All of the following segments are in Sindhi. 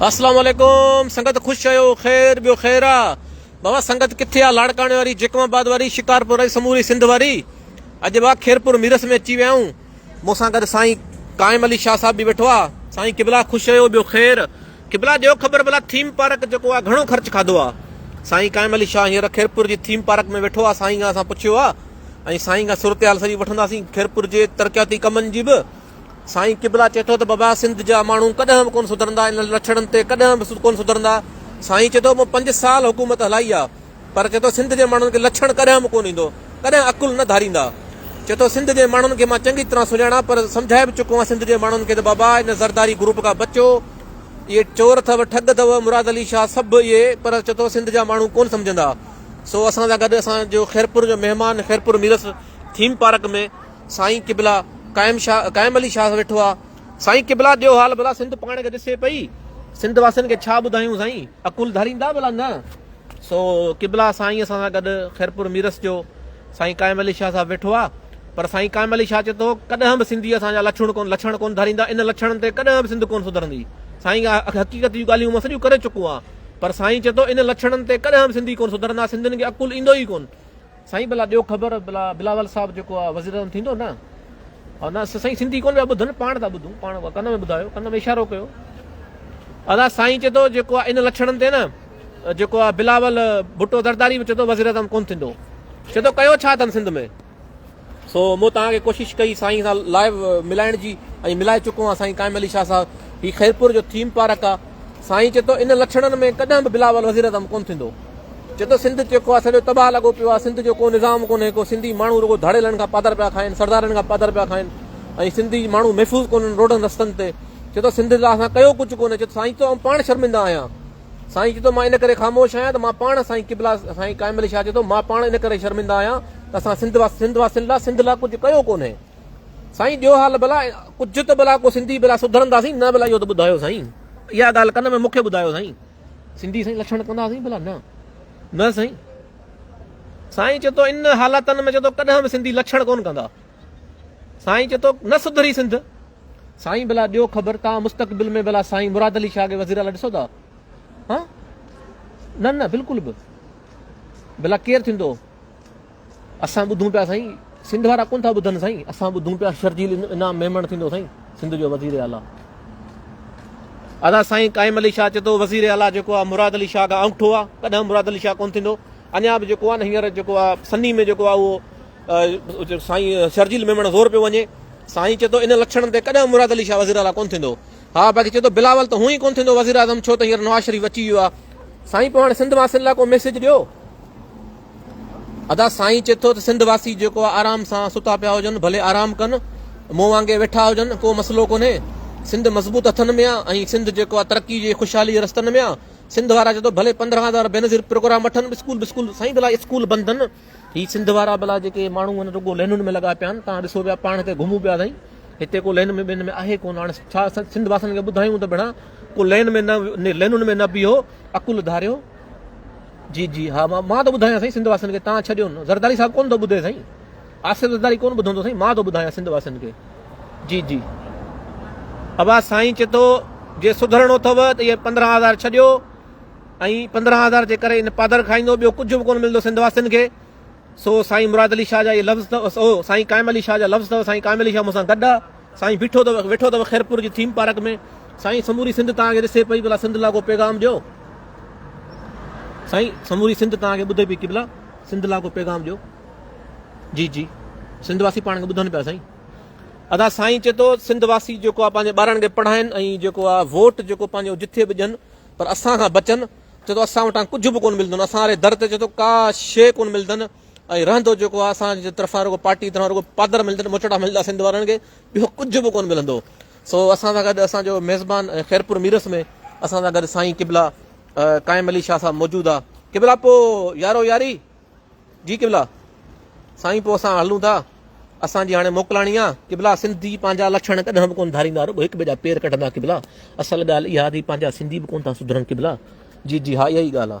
اسلام عليڪم سنگت خوش آهيو خير ٻيو خير آ بابا سنگت ڪٿي آ لاڙڪاڻي واري جيڪم آباد واري شڪارپور واري سموري سنڌ واري اڄ با خيرپور ميرس ۾ اچي ويا آهيون مون سان گڏ سائين قائم علي شاهه صاحب به ويٺو آ سائين قبلا خوش آهيو ٻيو خير قبلا ڏيو خبر بلا ٿيم پارڪ جيڪو آ گهڻو خرچ کاڌو آ سائين قائم علي شاهه هينئر خيرپور جي ٿيم پارڪ ۾ ويٺو آ سائين کان اسان پڇيو آ ۽ سائين کان صورتحال سڄي وٺنداسين خيرپور جي ترقياتي ڪمن جي به سائين قبلا چئي ٿو ته بابا سنڌ جا ماڻهو ڪڏهن به ڪونه سڌرندا انهن لڇڻن تي ڪڏهن به ڪونه سڌرندا سائين چئي ٿو مون پنج سال حڪومت هلائي آ پر چئي ٿو سنڌ جي ماڻهن کي لڇڻ ڪڏهن به ڪونه ايندو ڪڏهن عقل نه ڌاريندا چئي ٿو سنڌ جي ماڻهن کي مان چڱي طرح سڃاڻان پر سمجهائي به چڪو آهيان سنڌ جي ماڻهن کي ته بابا ان زرداري گروپ کان بچو اهي چور اٿو ٺڳ اٿو مراد علي شاهه سڀ اهي پر چئي ٿو سنڌ جا ماڻهو ڪونه سمجهندا سو اسان سان گڏ اسان جو خيرپور جو مهمان خيرپور ميرس ٿيم پارڪ ۾ سائين قبلا قائم شاھ قائم علي شاھ ويٺو آ. سائين قبلا ڏيو حال ڀلا سنڌ پاڻ کي ڏسي پئي سنڌ واسين کي ڇا ٻڌايون سائين عقل ڌاريندا ڀلا نه سو قبلا سائين اسان سان گڏ خيرپور ميرس جو سائين قائم علي شاھ صاحب ويٺو آ پر سائين قائم علي شاھ چي ٿو ڪڏھن به سنڌي اسان جا لڇڻ ڪون لڇڻ ڪون ڌاريندا ان لڇڻن تي ڪڏھن به سنڌ ڪون سڌرندي سائين حقيقت جون ڳالھيون مان سڄيون ڪري چڪو آ پر سائين چي ٿو ان لڇڻن تي ڪڏھن به سنڌي ڪون سڌرندا سنڌين کي عقل ايندو ئي ڪون سائين ڀلا ڏيو خبر ڀلا بلاول صاحب جيڪو آ وزير اعظم ٿيندو نه او نه سائين سنڌي ڪون پيا ٻڌن پاڻ ٿا ٻڌون پاڻ ڪن ۾ ٻڌايو ڪن ۾ اشارو ڪيو ادا سائين چي ٿو جيڪو ان لڇڻن تي نه جيڪو آ بلاول ڀٽو درداري به چي ٿو وزير اعظم ڪون ٿيندو چي ٿو ڪيو ڇا اٿن سنڌ ۾ سو مون تان کي ڪوشش ڪئي سائين سان لائيو ملائڻ جي ۽ ملائي چڪو آ سائين قائم علي شاهه صاحب هي خيرپور جو ٿيم پارڪ آ سائين چي ٿو ان لڇڻن ۾ ڪڏهن به بلاول وزير اعظم ڪون ٿيندو چي ٿو سنڌ چي ڪو آ سڄو تباهه لڳو پيو آ سنڌ جو ڪو نظام ڪونهي ڪو سنڌي ماڻهو رڳو ڌاڙيلن کان پادر پيا کائن سردارن کان پادر پيا کائن ۽ سنڌي ماڻهو محفوظ ڪونهن روڊن رستن تي چي ٿو سنڌ لاء اسان ڪيو ڪجهه ڪونهي چي ٿو سائين چي ٿو پاڻ شرمنده آهيان سائين چي ٿو مان ان ڪري خاموش آهيان ته مان پاڻ سائين قبلا سائين قائم علي شاهه چي ٿو مان پاڻ ان ڪري شرمنده آهيان ته اسان سنڌ سنڌ واسين لاء سنڌ لاء ڪجهه ڪيو ڪونهي سائين ڏيو حال ڀلا ڪجهه ته ڀلا ڪو سنڌي ڀلا سڌرنداسين نه ڀلا اهو ته ٻڌايو سائين اها ڳالهه ڪن ۾ مونکي ٻڌايو سائين سنڌي سائين لڇڻ ڪنداسين ڀلا نه نه سائين سائين چي ٿو ان حالتن ۾ چي ٿو ڪڏهن به سنڌي لڇڻ ڪون ڪندا سائين چي ٿو نه سڌري سنڌ سائين ڀلا ڏيو خبر تان مستقبل ۾ ڀلا سائين مراد علي شاهه کي وزير اعليٰ ڏسو ٿا ها نه نه بلڪل به ڀلا ڪير ٿيندو اسان ٻڌون پيا سائين. سنڌ وارا ڪونه ٿا ٻڌن سائين اسان ٻڌون پيا شرجيل انعام ميمڻ ٿيندو سائين سنڌ جو وزير اعليٰ ادا سائين قائم علي شاهه چي ٿو وزير اعليٰ جيڪو آ مراد علي شاهه کان انگٺو آ ڪڏهن مراد علي شاهه ڪون ٿيندو اڃا به جيڪو آ نه هينئر جيڪو آ سني ۾ جيڪو آ اهو سائين شرجيل ميمڻ زور پيو وڃي سائين چي ٿو ان لڇڻن تي ڪڏهن مراد علي شاهه وزير اعليٰ ڪون ٿيندو ها باقي چي ٿو بلاول ته هون ئي ڪون ٿيندو وزير اعظم ڇو ته هينئر نواز شريف اچي ويو آ سائين پوء هاڻي سنڌ واسين لاء ڪو ميسيج ڏيو ادا سائين چي ٿو ته سنڌ واسي جيڪو آ آرام سان ستا پيا هجن ڀلي آرام ڪن مون وانگي ويٺا هجن ڪو مسئلو ڪونهي سنڌ مضبوط هٿن ۾ آ ۽ سنڌ جيڪو آ ترقي جي خوشحالي جي رستن ۾ آ سنڌ وارا چي ٿو ڀلي پندرهن هزار بينظير پروگرام وٺن اسڪول بسڪول سائين ڀلا اسڪول بند هن هي سنڌ وارا ڀلا جيڪي ماڻهو هن رڳو لينن ۾ لڳا پيا آهن تان ڏسو پيا پاڻ هتي گهمون پيا سائين هتي ڪو لين ۾ بين ۾ آهي ڪون هاڻي ڇا سنڌ واسن کي ٻڌايون ته ڀيڻا ڪو لين ۾ نه لينن ۾ نه بيهو عقل ڌاريو جي جي ها مان ٿو ٻڌايان سائين سنڌ واسين کي تان ڇڏيو نه زرداري صاحب ڪون ٿو ٻڌي سائين آصف زرداري ڪون ٻڌندو سائين مان ٿو ٻڌايان سنڌ واسين کي جي جي ابا سائين چي ٿو جي سڌرڻو اٿو ته اهي پندرهن هزار ڇڏيو ۽ پندرهن هزار جي ڪري ان پادر کائيندو ٻيو ڪجهه به ڪونه ملندو سنڌ واسين کي سو سائين مراد علي شاهه جا اهي لفظ اٿو سائين قائم علي شاهه جا لفظ اثر سائين قائم علي شاهه مون سان گڏ سائين بيٺو ته ويٺو اٿو خيرپور جي ٿيم پارڪ ۾ سائين سموري سنڌ توهان کي ڏسي پئي ڀلا سنڌ لاڳو پيغام ڏيو سائين سموري سنڌ توهان کي ٻڌي پئي ڪي ڀلا سنڌ لاڳو پيغام ڏيو جي جي سنڌ واسي پاڻ کي ٻڌن پيا سائين ادا سائين چي ٿو سنڌ واسي جيڪو آ پنهنجي ٻارن کي پڙهائين ۽ جيڪو آ ووٽ جيڪو پنهنجو جٿي به ڏين پر اسان کان بچن چي ٿو اسان وٽان ڪجهه به ڪون ملندن اسان واري در تي چي ٿو ڪا شي ڪون ملندن ۽ رهندو جيڪو آهي اسان جي طرفان رڳو پارٽي طرفان رڳو پادر ملندن مچوڙا ملندا سنڌ وارن کي ٻيو ڪجهه به ڪون ملندو سو اسان سان گڏ اسان جو ميزبان ۽ خيرپور ميرس ۾ اسان سان گڏ سائين قبلا قائم علي شاهه صاحب موجود آ قبلا پو يارو ياري جي قبلا سائين پو اسان هلون ٿا اسان جي هاڻي موڪلاڻي آ قبلا سنڌي پنهنجا لڇڻ ڪڏهن به ڪون ڌاريندا رڳو هڪ ٻئي جا پير ڪڍندا قبلا اصل ڳالهه اها ٿي پنهنجا سنڌي به ڪون ٿا سڌرن قبلا جي جي ها اها ئي ڳالهه آ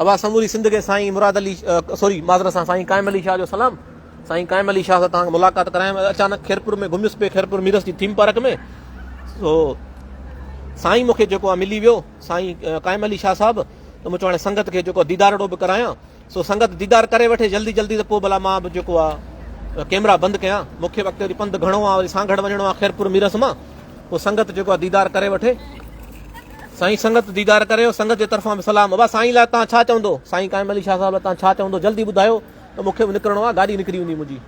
اوهان سموري سنڌ کي سائين مراد علي سوري معذرت سان سائين قائم علي شاهه جو سلام سائين قائم علي شاهه سان توهان ملاقات ڪرايم اچانڪ خيرپور ۾ گهميس پي خيرپور ميرس جي ٿيم پارڪ ۾ سو سائين مونکي جيڪو آ ملي ويو سائين قائم علي شاهه صاحب ته مون چوڻي سنگت کي جيڪو ديدارڙو به ڪرايان سو سنگت ديدار ڪري وٺي جلدي جلدي ته پوء بلا مان به جيڪو آ ڪيمرا بند ڪيان مونکي وقت وري پنڌ گهڻو آ وري سانگهڙ وڃڻو آ خيرپور ميرس مان پوء سنگت جيڪو آ ديدار ڪري وٺي سائين سنگت ديدار ڪريو سنگت جي طرفان به سلام ابا سائين لاء تان ڇا چوندو سائين قائم علي شاھ صاحب لاء تان ڇا چوندو جلدي ٻڌايو ته مونکي به نڪرڻو آ گاڏي نڪري ويندي منھنجي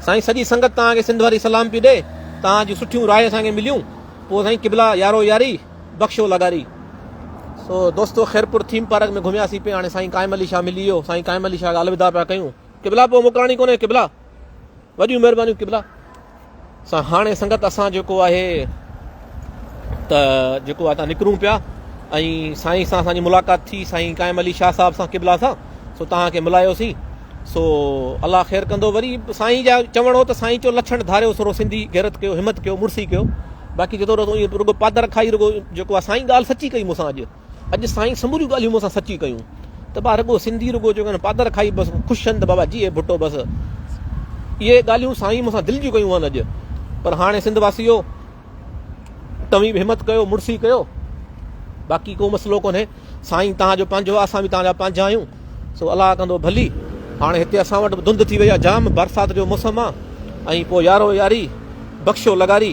سائين سڄي سنگت تان کي سنڌ واري سلام پي ڏي تان جي سٺيون راھي اسان کي مليون پو سائين قبلا يارو ياري بخشو لغاري سو دوستو خيرپور ٿيم پارڪ ۾ گھميا سي پي ھاڻي سائين قائم علي شاھ ملي ويو سائين قائم علي شاھ الوداع پيا ڪيون قبلا پو موڪلاڻي ڪونھي قبلا وڏيون مهربانيون قبلا سان هاڻي سنگت اسان جيڪو آهي ته جيڪو آهي تان نڪرون پيا ۽ سائين سان اسان جي ملاقات ٿي سائين قائم علي شاهه صاحب سان قبلا سان سو تان کي ملايوسين سو الله خير ڪندو وري سائين جا چوڻ هو ته سائين چو لڇڻ ڌاريو سورو سنڌي غيرت ڪيو همت ڪيو مڙسي ڪيو باقي جتو رڳو پادر کائي رڳو جيڪو سائين ڳالهه سچي ڪئي مون سان اڄ اڄ سائين سموريون ڳالهيون مون سان سچي ڪيون ته با رڳو سنڌي رڳو چوڪ ۾ پادر کائي بس خوش هن ته بابا جي اي ڀٽو بس اهي ڳالهيون سائين مون سان دل جون ڪيون آهن اڄ پر هاڻي سنڌ واسيو توهين به همت ڪيو مڙسي ڪيو باقي ڪو مسئلو ڪونهي سائين تان جو پنهنجو آهي اسان به تان جا پنهنجا آهيون سو الله ڪندو ڀلي هاڻي هتي اسان وٽ به ڌند ٿي وئي آهي جام برسات جو موسم آهي ۽ پوء يارو ياري بخشو لغاري